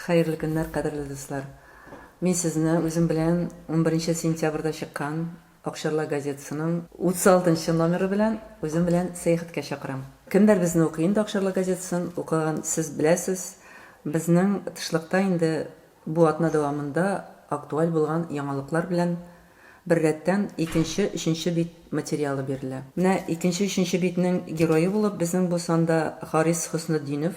Хәерле көннәр, кадерле дуслар! Мин сезне үзем белән унберенче сентябрьдә чыккан Акчарлак газетасының утыз алтынчы номеры белән үзем белән сәяхәткә чакырам. Кемнәр безне укый инде Акчарлак газетасын укыган сез беләсез, безнең тышлыкта инде бу атна дәвамында актуаль булган яңалыклар белән беррәттән икенче, өченче бит материалы бирелә. Менә икенче, өченче битнең герое булып безнең бу санда Харис Хөснетдинов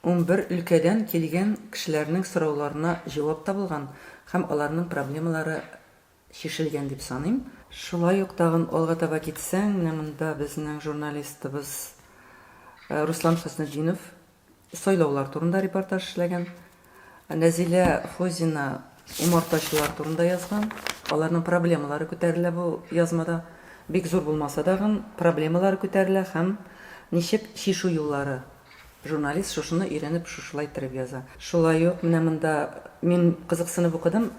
Унбер өлкәдән килгән кешеләрнең сорауларына җавап табылган һәм аларның проблемалары чишелгән дип саныйм. Шулай ук тагын алга таба китсәң, менә монда безнең журналистыбыз Руслан Хөснетдинов сайлаулар турында репортаж эшләгән. Нәзилә Фозина умартачылар турында язган. Аларның проблемалары күтәрелә бу язмада. Бик зур булмаса дагын, проблемалары күтәрелә һәм ничек чишү юллары Журналист шушыны өйрәнеп шушылай тереп яза. Шулай ук менә монда мин кызыксынып укыдым,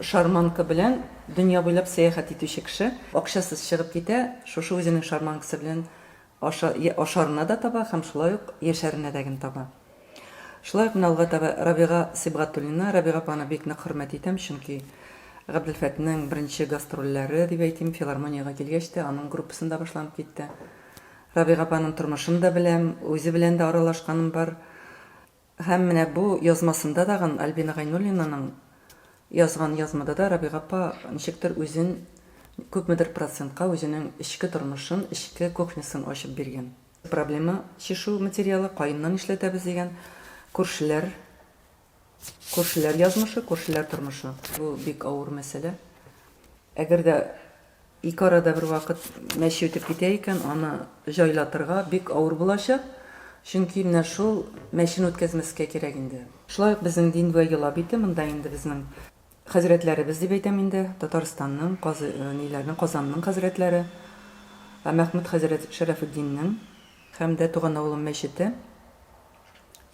шарманка белән дөнья буйлап сәяхәт итүче кеше акчасыз чыгып китә, шушы үзенең шарманкасы белән аша ашарына да таба һәм шулай ук яшәренә дә ген таба. Шулай ук менә алга таба Рабига Сибгатуллина, Рабига апаны бик нык хөрмәт итәм, чөнки Габделфәтнең беренче гастрольләре дип әйтим, филармониягә килгәч тә аның группасында башланып китте. Рабига апаның тормышын да беләм, үзе белән дә аралашканым бар. Һәм менә бу язмасында тагын Альбина Гайнуллинаның язган язмада да Рабига апа ничектер үзен күпмедер процентка үзенең эчке тормышын, эчке кухнясын ачып биргән. Проблема чишү материалы, каенны нишләтәбез дигән, күршеләр Күршеләр язмышы, күршеләр тормышы. Бу бик авыр мәсьәлә. Әгәр дә ике арада бервакыт мәче үтеп китә икән, аны җайлатырга бик авыр булачак. Чөнки менә шул мәчене үткәзмәскә кирәк инде. Шулай ук безнең дин вә йола бите, монда инде безнең хәзрәтләребез дип әйтәм инде, Татарстанның, Казы, ниләрнең, Казанның хәзрәтләре, Мәхмүт хәзрәт Шәрәфетдиннең һәм дә Туган авылым мәчете.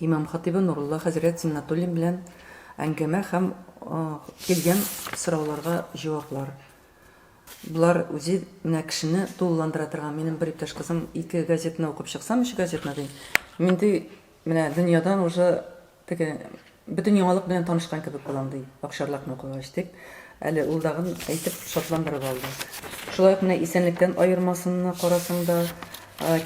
Имам-хатыйбы Нурулла хәзрәт Зиннатуллин белән әңгәмә һәм килгән сорауларга җаваплар. Болар үзе менә кешене тулыландыра торган. Минем бер иптәш кызым ике газетаны укып чыксам, өч газетаны ди. Миндый менә дөньядан уже теге Бөтен яңалык белән танышкан кебек булам, ди Акчарлакны укыгач, дип, әле ул дагын әйтеп шатландырып алды. Шулай ук менә исәнлектән аермасынны карасаң да,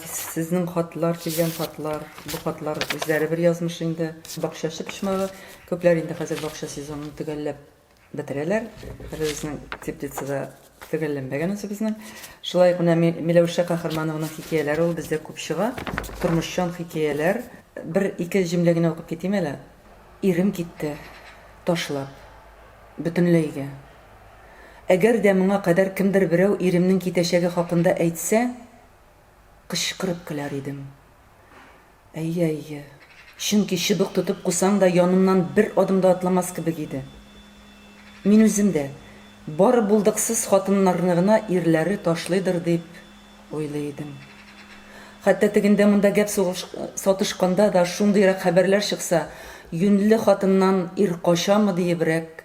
сезнең хатлар, килгән хатлар, бу хатлар үзләре бер язмыш инде. Бакчачы почмагы, күпләр инде хәзер бакча сезонын төгәлләп. бетерәләр. Әле безнең теплицада төгәлләнмәгән үзебезнең. Шулай ук менә Миләүшә Каһарманованың хикәяләре ул бездә күп чыга. Тормышчан хикәяләр. Бер-ике җөмлә генә укып китим әле. Ирем китте, ташлап. Бөтенләйгә. Әгәр дә моңа кадәр кемдер берәү иремнең китәчәге хакында әйтсә, кычкырып көләр идем. Әйе, әйе. Чөнки чыбык тотып кусаң да янымнан бер адым да атламас кебек иде. Мин үзем дә, бары булдыксыз хатыннарны гына ирләре ташлыйдыр дип уйлый идем. Хәтта тегендә-монда гәп сатышканда да шундыйрак хәбәрләр чыкса, юньле хатыннан ир качамы диебрәк